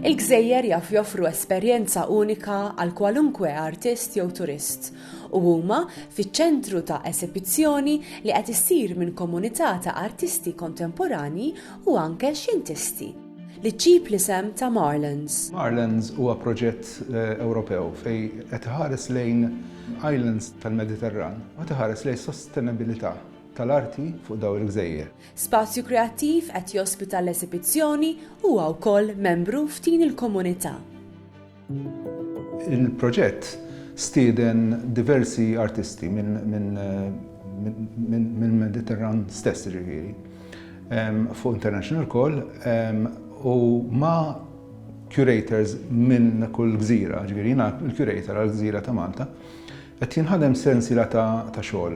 Il-gżejjer jaf joffru esperjenza unika għal kwalunkwe artist jew turist u huma fiċ-ċentru ta' esibizzjoni li qed issir minn komunità ta' artisti kontemporanji u anke xjentisti li ġġib l-isem ta' Marlands. Marlands huwa proġett eh, Ewropew fej qed iħares lejn islands tal-Mediterran u qed iħares lejn sostenabilità tal-arti fuq daw il-gżejjer. Spazju Kreattiv qed jospita l-esibizzjoni huwa wkoll membru f'din il-komunità. Il-proġett stieden diversi artisti mill-Mediterran stess jiġifieri, fuq international call, u ma' curators minn kull gżira, jiġifieri jiena l-curator għall-gżira ta' Malta, qed jinħadem sensiela ta' xogħol.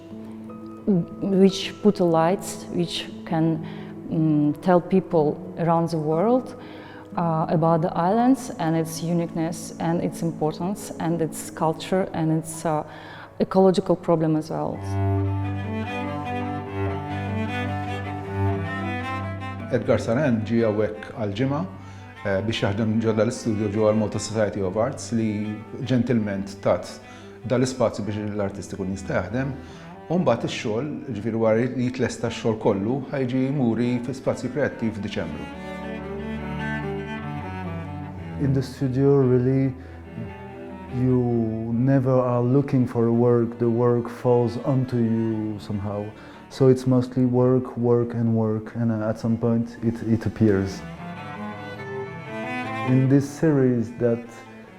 which put the lights which can um, tell people around the world uh, about the islands and its uniqueness and its importance and its culture and its uh, ecological problem as well. Edgar Saran ġi għawek għal-ġimgħa eh, biex jaħdem ġodda l-istudio ġo għal malta Society of Arts li ġentilment tat dan l-ispazju biex l-artist ikun jista' jaħdem u mbagħad ix-xogħol, ġifieri wara li jitlesta x-xogħol kollu, ħajġi muri fi spazju kreattiv f'Diċembru. In the studio really you never are looking for a work, the work falls onto you somehow. So it's mostly work, work and work and uh, at some point it, it appears. In this series that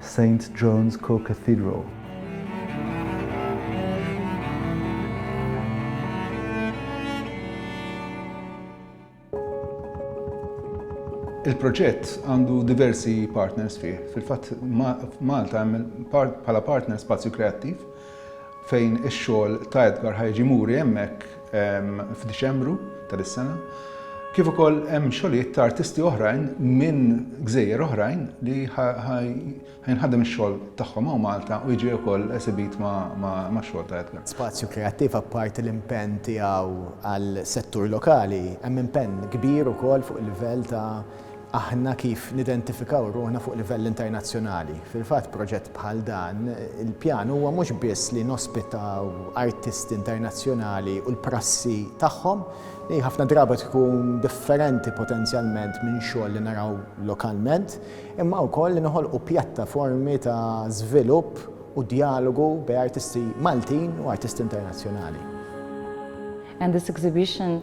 Saint John's Co-Cathedral. Il-proġett għandu diversi partners fih. Fil-fatt, f'Malta hemm bħala partner Spazju Kreattiv fejn ix-xogħol ta' Edgar ħa jiġi muri hemmhekk f'Diċembru ta' dis-sena, kif ukoll hemm xogħlijiet ta' artisti oħrajn minn gżejjer oħrajn li ħa jinħadem ix-xogħol tagħhom hawn Malta u jiġi wkoll esibit max-xogħol ta' Edgar. Spazju Kreattiv apparti l-impenn tiegħu għall-settur lokali, hemm impenn kbir ukoll fuq il-livell ta' aħna kif nidentifikaw ruħna fuq livell internazzjonali. Fil-fatt proġett bħal dan, il-pjan huwa mhux biss li nospitaw artisti internazzjonali u l-prassi tagħhom, li ħafna drabi tkun differenti potenzjalment minn xogħol li naraw lokalment, imma wkoll li noħolqu pjattaformi ta' żvilupp u djalogu bejn artisti Maltin u artisti internazzjonali. and this exhibition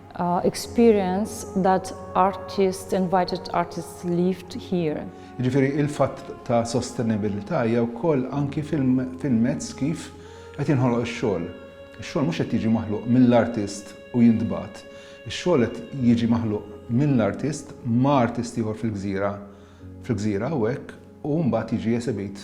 experience that artists, invited artists lived here. Jiġifieri il-fatt ta' sostenibbiltà hija wkoll anki fil-mezz kif qed jinħoloq ix-xogħol. Ix-xogħol mhux qed jiġi maħluq mill-artist u jintbagħat. Ix-xogħol qed jiġi maħluq mill-artist ma' artist ieħor fil-gżira fil-gżira hawnhekk u mbagħad jiġi esebit